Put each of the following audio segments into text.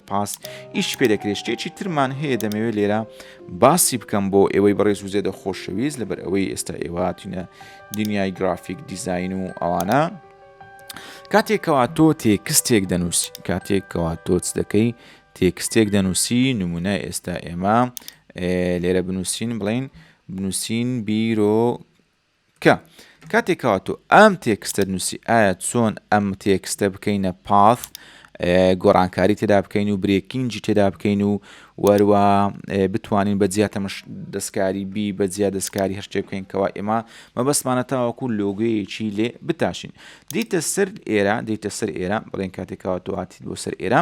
پاس ئیش پێ دەکرێت شتێکی ترمان هەیە دەمەوێت لێرە باسی بکەم بۆ ئێوەی بەڕێز و زێدە خۆشەویست لەبەر ئەوەی ئێستا ئێواتینە دنیای گرافیک دیزین و ئەوانە کاتێکەوە تۆ تێکستێک دەنووسی کاتێکەوە تۆچ دەکەی تێکستێک دەنووسی، نموونە ئێستا ئێمە لێرە بنووسین بڵین بنووسین بیرۆ کە کاتێک کاتۆ ئەم تێکستە نووسی ئایا چۆن ئەم تێکستە بکەینە پاس گۆڕانکاری تێدا بکەین و برێکینجی تێدا بکەین و وەروە بتوانین بە جیا تەمەش دەستکاری بی بە جیا دەستکاری هەر شتێ بکەین کەوا ئێمە مەبەستمانە تاوەکو لۆگویەکی لێ بتاشین دیتە سەر ئێرە دیتە سەر ئێرە بڵێن کاتێکەوە دوهاتی بۆ سەر ئێرە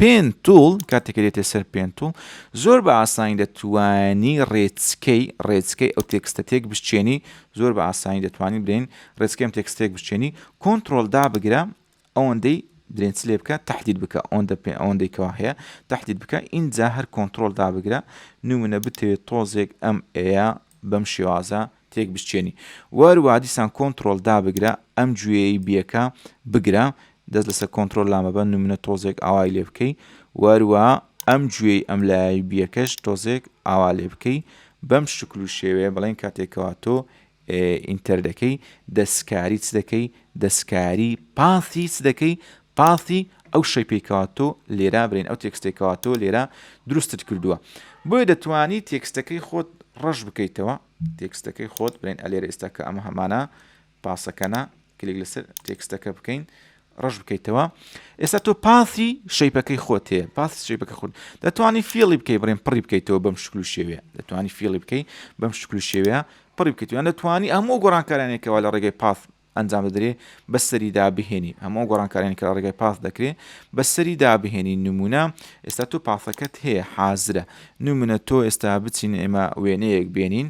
پێن توڵ، کاتێک کە دێتە سەر پێن توڵ، زۆر بە ئاسانی دەتوانی ڕێچکەی ڕێچکەی ئەو تێکستە تێک بشچێنی، زۆر بە ئاسانی دەتوانین برێن ڕێچکەی ئەم تێکست تێک بشچێنی، کۆنترۆل دا بگرە ئەوەندەی برێن چ لێ بکە تهدید بکە ئەوەندە پێ ئەوەندەی کەوا هەیە تهدید بکە ئینجا هەر کۆنترۆل دا بگرە نمونە بتەوێت تۆزێک ئەم ئەیە بەم شێوازە تێک بشکێنی وەر وا دیسان کۆنتڕۆڵ دابگرە ئەم گوێیەی بیەکە بگرە دەست لەسەر کۆنتڕۆل لا مەبە نمونە تۆزێک ئاوای لێ بکەی وەر وا ئەم گوێی ئەم لایەی بیەکەش تۆزێک ئاوا لێ بکەی بەم شکل و شێوەیە بڵێن کاتێکەوە تۆ ئینتەر دەکەی دەستکاری چ دەکەی دەستکاری پاسی چ دەکەی پاسی ئەو شەیپێکەوە تۆ لێرا برین ئەو تێکستێکەوە تۆ لێرە دروستت کردووە بۆیە دەتوانی تێکستەکەی خۆت ڕەش بکەیتەوە تێکستەکەی خۆت بنێن ئەلێرە ئێستا کە ئەمە هەمانە پاسەکەنە کلیک لەسەر تێکستەکە بکەین ڕەش بکەیتەوە ئێستا تۆ پاسی شەیپەکەی خۆت هەیە پاسی شەیپەکە خۆت دەتوانانی فێڵی بکەی بڕێن پڕی بکەیتەوە بەم شکل و شێوێ دەتوانانی فێڵی بکەی بەم شکل و شێوەیە پڕی بکەیت یان دەتوانانی هەموو گۆڕانکارانێکەوە لە ڕێگەی پاس ئەنجام دەدرێ بە سەری دابهێنین هەموو ئەو گۆڕانکاریانی کە لە ڕێگای پاس دەکرێ بە سەری دابهێنین نمونە ئێستا تۆ پاسەکەت هەیە حازرە نمونە تۆ ئێستا بچین ئێمە وێنەیەک بێنین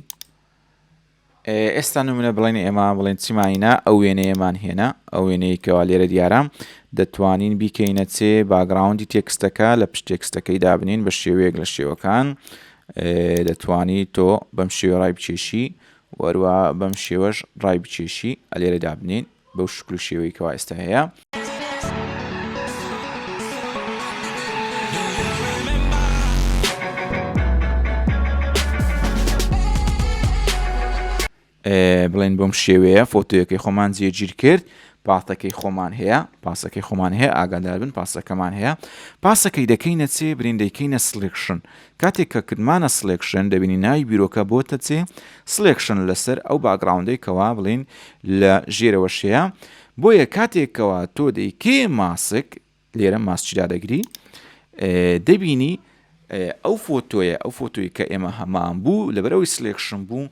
ئێستا نمونە بڵێن ئێمە بڵێن چیمانینە ئەو وێنەیەمان هێنا ئەو وێنەیە کەوا لێرە دیارە دەتوانین بیکەینە چێ باگراوندی تێکستەکە لە پشت تێکستەکەی دابنین بە شێوەیەک لە شێوەکان دەتوانی تۆ بەم شێوەڕای بچێشی و هەروەها بەم شێوەش ڕای بکێشی ئەلێرە دابنێین بەو شکل و شێوەی کەوا ئێستا هەیە. بڵێن بۆم شێوەیە فۆتۆیەکەی خۆمان جێگیر کرد پاتەکەی خۆمان هەیە پاسەکەی خۆمان هەیە ئاگاداربن پاسەکەمان هەیە پاسەکەی دەکەینە چێ برین دەیکەینە سلکشن کاتێک کە کردمانە سڵێکشن دەبینین ناوی بیرۆکە بۆتە چێ سڵێکشن لەسەر ئەو باگڕاوندەی کەوا بڵین لە ژێرەوە شەیە بۆیە کاتێک کەوا تۆ دەیکێ ماسک لێرە ماسچی دادەگری دەبینی ئەو فۆتۆیە ئەو فۆتۆی کە ئێمە هەمان بوو لەبەرەوەی سلێکشن بوو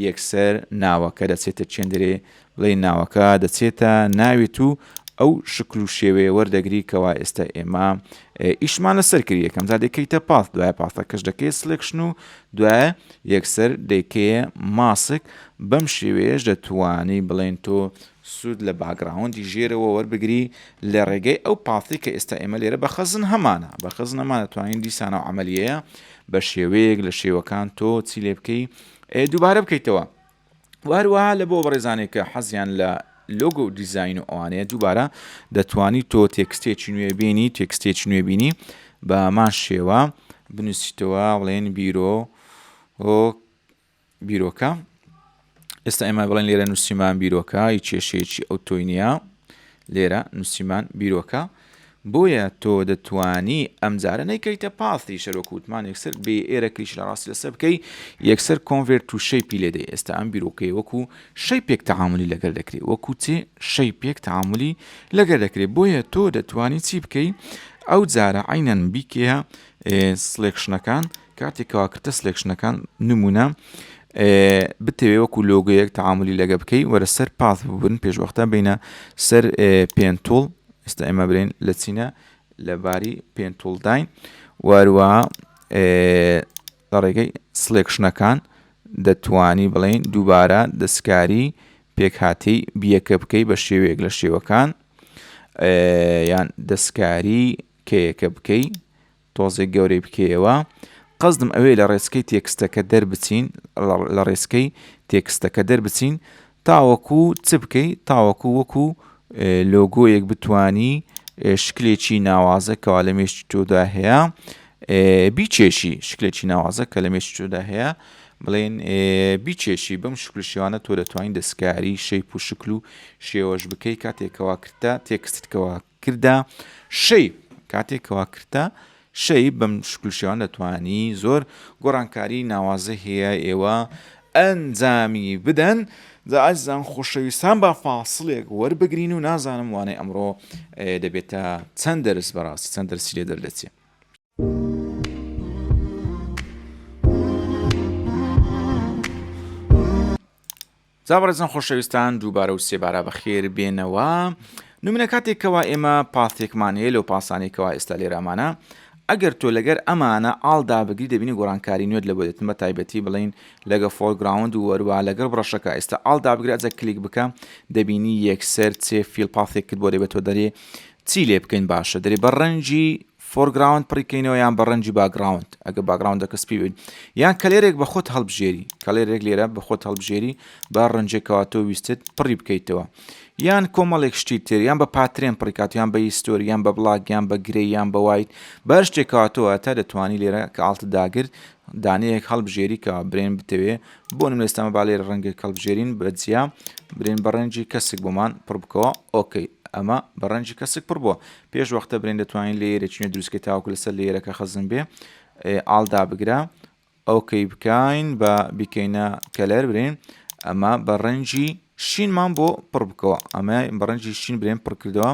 یەکسەر ناوەکە دەچێتە چێندرێ ڵێی ناوەکە دەچێتە ناوێت و ئەو شکل و شێوەیە وەردەگری کەوا ئێستا ئێمە ئیشمان لەسەر کرد یەکەم جا دەکەیتە پاس دوای پاسەکەش دەکەی سلێکشن و دوای یەکسەر دەکەیە ماسک بەم شێوەیەش دەتوانی بڵێن تۆ سوود لە باگراوندی ژێرەوە وەربگری لە ڕێگەی ئەو پاسی کە ئێستا ئێمە لێرە بە خەزن هەمانە بە خزنەمان دەتوانین دیسانە و عملیەیە بە شێوەیەک لە شێوەکان تۆ چی لێ بکەی دووبارە بکەیتەوە و هەروەها لە بۆ بەڕێزانێک کە حەزیان لە لۆگۆ و دیزاین و ئەوانەیە دووبارە دەتوانی تۆ تێکستێکی نوێ بینی تێکستێکی نوێ بینی بە هەمان شێوە بنووسیتەوە بڵێن بیرۆ بیرۆکە ئێستا ئێمە بڵێن لێرە نووسیمان بیرۆکە هیچ کێشەیەکی ئەو تۆی نییە لێرە نووسیمان بیرۆکە بۆیە تۆ دەتوانی ئەم جارە نەیکەیتە پاثی شەرۆک وتمان یەکسەر بێ ئێرە کلیکی لە ڕاستی لەسەر بکەی یەکسەر Convert to Shape لێ دەی ئێستا ئەم بیرۆکەیە وەکو شەیپێک تەعامولی لەگەر دەکرێ وەکو چ شەیپێک تەعامولی لەگەر دەکرێ بۆیە تۆ دەتوانی چی بکەی ئەو جارە عەینەن بیکەیە سلێکشنەکان کاتێک کەوا کردتە سلێکشنەکان نمونە بتەوێ وەکو لۆگەیەک تەعاملی لەگە بکەی وەرە سەر پاث ببن پێشوەختە بینە سەر پێنتۆڵ ئێستا ئێمە برین لە چینە لەباری پێنتولداین واروە لە ڕێگەی سلێکشنەکان دەتوانی بڵین دووبارە دەستکاری پێکهاتی بیەکە بکەی بە شێوەیەک لە شێوەکان یان دەستکاری کەیەکە بکەی تۆزێک گەورەی بکەیەوە. قەسدم ئەوەیە لە ڕێچکەی تێکستەکە دەربچین، لە ڕێچکەی تێکستەکە دەربچین تاوەکو چ بکەی؟ تاوەکو وەکو لۆگۆیەک بتانی شکلێکی ناوازە کەوا لە مێشتی تۆدا هەیە بیچێشی شکلێکی ناوازە کە لە مێشتی تۆدا هەیە بڵێن بیچێشی بەم شکل شێوانە تۆ دەتوانین دەستکاری شەیپ و شکل و شێوەش بکەی کاتێکەوە کردە تێکستکەوە کردە شەی کاتێک کەوا کردە شەی بەم شکل شێوان دەتوانی زۆر گۆڕانکاری ناوازە هەیە ئێوە ئەنجامی بدەن جا ئازیزان خۆشەویستان با فاصلێک وەربگرین و نازانم وانەی ئەمڕۆ دەبێتە چەند دەرس بەڕاستی چەند دەرسی لێ دەردەچێت جا بەڕێزان خۆشەویستان دووبارە و سێبارە بەخێر بێنەوە نمونە کاتێک کەوا ئێمە پاستێکمان هەیە لەو پاسانەی کەوا ئێستا لێرامانە ئەگەر تۆ لەگەر ئەمانە ئاڵدا بگری دەبینی گۆڕانکاری نوێت لە بۆێتن بە تایبەتی بڵین لەگە فۆرگراوند و وەروە لەگەڵ بڕەشەکە ئێستا ئاڵدا بگرە جە کلیک بکە دەبینی یەکسەر چێ فیل پاسێکت بۆ دەبێتەوە دەرێ چی لێ بکەین باشە دەێ بە ڕەنجی فۆرگراوند پڕی کەینەوە یان بە ڕەنجی باگراوند ئەگە باگراوندەکە سپی بێت یان کەلێرێک بە خۆت هەڵبژێری کەلێرێک لێرە بە خۆت هەڵبژێری با ڕەنجێکەوە تۆ ویستت پڕی بکەیتەوە یان کۆمەڵێک شتی تر یان بە پاترێن پڕیکات یان بە هیستۆری یان بە بڵاک یان بە گرێ یان بە وایت بەر شتێکەوە تۆ تا دەتوانی لێرە کە ئاڵتە داگرت دانەیەک هەڵبژێری کە برێن بتەوێ بۆ نم لەستەمە با لێرە ڕەنگێک هەڵبژێرین بە جیا برێن بە ڕەنجی کەسک بۆمان پڕ بکەوە ئۆکەی ئەمە بە ڕەنجی کەسک پڕ بووە پێش وەختە برێن دەتوانین لەیەرە چینە دروستکە تاوکو لەسەر لەیەرەکە خەزن بێ ئال دابگرە ئەوکەی بکەین بە بیکەینە کەلەر برێن ئەمە بە ڕەنجی شینمان بۆ پڕ بکەوە ئەمە بەڕەنجی شین برێن پڕکردەوە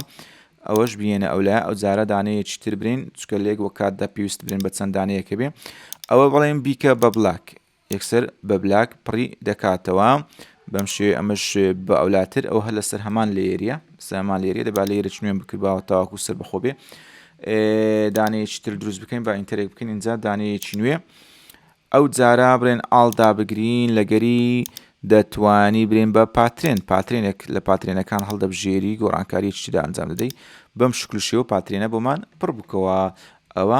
ئەوەش بینە ئەو لە ئەو جارە دانەیە چتر برین چکە لێک وە کات دە پێویست برێن بە چەند دانەیەکە بێ ئەوە بڵێن بیکە بە بلاک یەکسەر بە بلاک پڕی دەکاتەوە بەم شێوێ ئەمەش بە ئەولاتر ئەو هەر لەسەر هەمان لێریە سەمان لێریە دەبا لێرە چنوێن بکردباوە تاواکو سەر بەخۆ بێ دانەیەکی تر دروست بکەین با ئینتەرێک بکەین اینجا دانەیەکی نوێ ئەو جارا برێن ئاڵدا بگرین لەگەری دەتوانی برێن بە پاترێن پاترێنێک لە پاترێنەکان هەڵدەبژێری گۆڕانکاری چیدا ئەنجام دەدەی بەم شکل شێوە پاترێنە بۆمان پڕ بکەوە ئەوە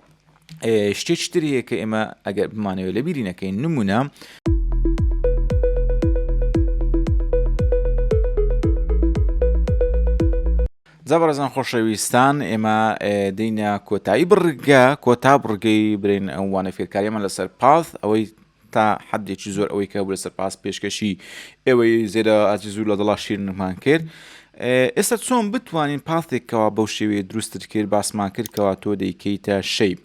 شتێکی تر هەیە کە ئێمە ئەگەر بمانەوە لە بیری نەکەین نمونە زەبرەزان خۆشەویستان ئێمە دینە کۆتایی بڕگە کۆتا بڕگەی برین ئەوانە فێرکاریمان لەسەر پاس ئەوەی تا حەدێکی زۆر ئەوەی کە بوو لەسەر پاس پێشکەشی ئێوەی زێرە ئازیز و لە دڵا شیرنمان کرد ئێستا چۆن بتوانین پاستێکەوە بەو شێوەیە دروستت کرد باسمان کردکەوە تۆ دەیکەیتە شەیب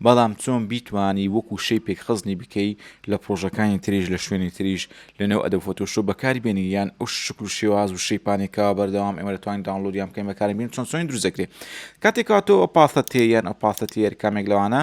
بەڵام چۆن بیتوانی وەکو شەی پێکخزنی بکەی لە پرۆژەکانی تریش لە شوێنی تریش لەنێو ئەدە فۆتۆشۆ بەکاری بێنی یان ئەو شکل و شێواز و شەیپانێکەوە بەردەوام ئێمە دەتوانین داونلودیان بکەین بەکاری بین چۆن چۆنی دروستەکرێت کاتێکەوە تۆ پاستە تێ یان ئەو پاستە تێر کامێک لەوانە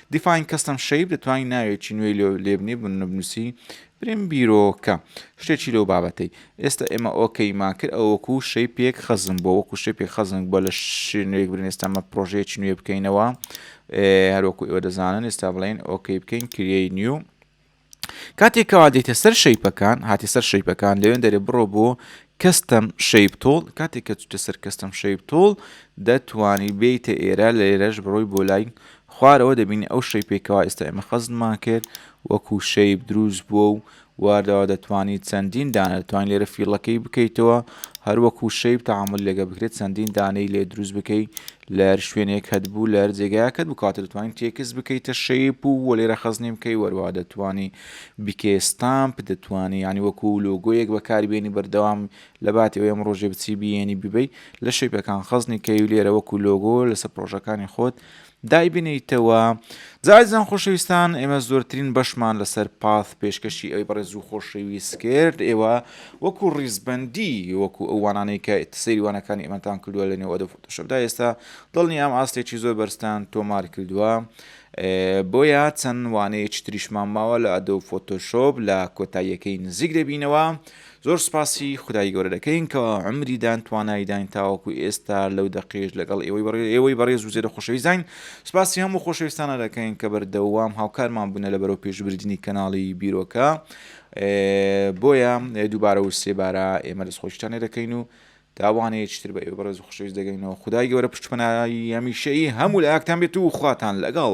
Define Custom Shape دەتوانی ناوێکی نوێی لۆ لێبنی بنبنووسی بریم بیرۆکە شتێکی لەو بابەتەی ئێستا ئێمە ئۆکەیمان کرد ئەو وەکو شەی پێک خەزم بۆ وەکو شەی پێک خەزم بۆ لە شوێنێک برین ئێستامە پرۆژەیەکی نوێ بکەینەوە هەروەکو ئێوە دەزانن ئێستا بڵێن ئۆکەی بکەین کریەی نیو کاتێک کەوا دێتە سەر شەیپەکان هاتی سەر شەیپەکان لەوێن دەرێ بڕۆ بۆ کەستەم شەیب تۆڵ کاتێک کە چتە سەر کەستەم شەیب تۆڵ دەتوانی بیتە ئێرە لە ئێرەش بڕۆی بۆ لای خوارەوە دەبینی ئەو شەیپێکەوە ئێستا ئێمە خەزمان کرد وەکو شەیب دروست بووە و واردەوە دەتوانانی چەندین دانە دەتوانین لێرە فیڵەکەی بکەیتەوە هەروەکو شەیب تەعامل لەگە بکرێت چەندین دانەی لێ دروست بکەیت لەر شوێنێکەت بوو لەر جێگایەکەت بوو کاتێ دەتوانین تێکس بکەیتە شەیپ و وە لێرە خەزنی بکەی وەروە دەتوانی بکێ ستامپ دەتوانی ینی وەکو لۆگۆیەک بەکاری بێنی بەردەوام لە باتی ئەوەی ئەم ڕۆژێ بچی بیێنی ببی لە شەیپەکان خەزنی کەی و لێرە وەکو لۆگۆ لەسەر پرۆژەکانی خۆت دایبنیتەوە زازان خۆشەویستان ئێمە زۆرترین بەشمان لەسەر پاث پێشکەشی ئەوی بەڕێز و خۆشەویست کرد ئێوە وەکو ڕیزبندی وەکو ئەوانانەی کە سەیروانەکانی ئەمەتان کردووە لە نێو ئەدۆ شەبدا ئێستا دڵنیام ئاستێکی زۆر بەرزتان تۆمارکردووە بۆیە چەند وانەیەکی تریشمان ماوە لە ئەدۆ فۆتۆشۆپ لە کۆتاییەکەی نزیک دەبینەوە زۆر سپاسی خدای گەورە دەکەین کە ئەمریدان توانایداین تاوەکو ئێستا لەو دەقێش لەگەڵ ئێوەی بەڕێ ئێوەی بەڕێز و زێرە خۆشەویستین سپاسی هەموو خۆشەویستانە دەکەین کە بەردەوام هاوکارمان بوونە لە بەرەو پێشبردننی کەناڵی بیرۆکە بۆیە دووبارە و سێبارە ئێمە دەست خۆشتانێ دەکەین و تاوانەیە چیتر بە ئێوەی بەڕێز و خۆشەویست دەگەینەوە خودای گەورە پشتپەناهی هەمیشەیی هەموو لایەکتان بێت و خواتان لەگەڵ.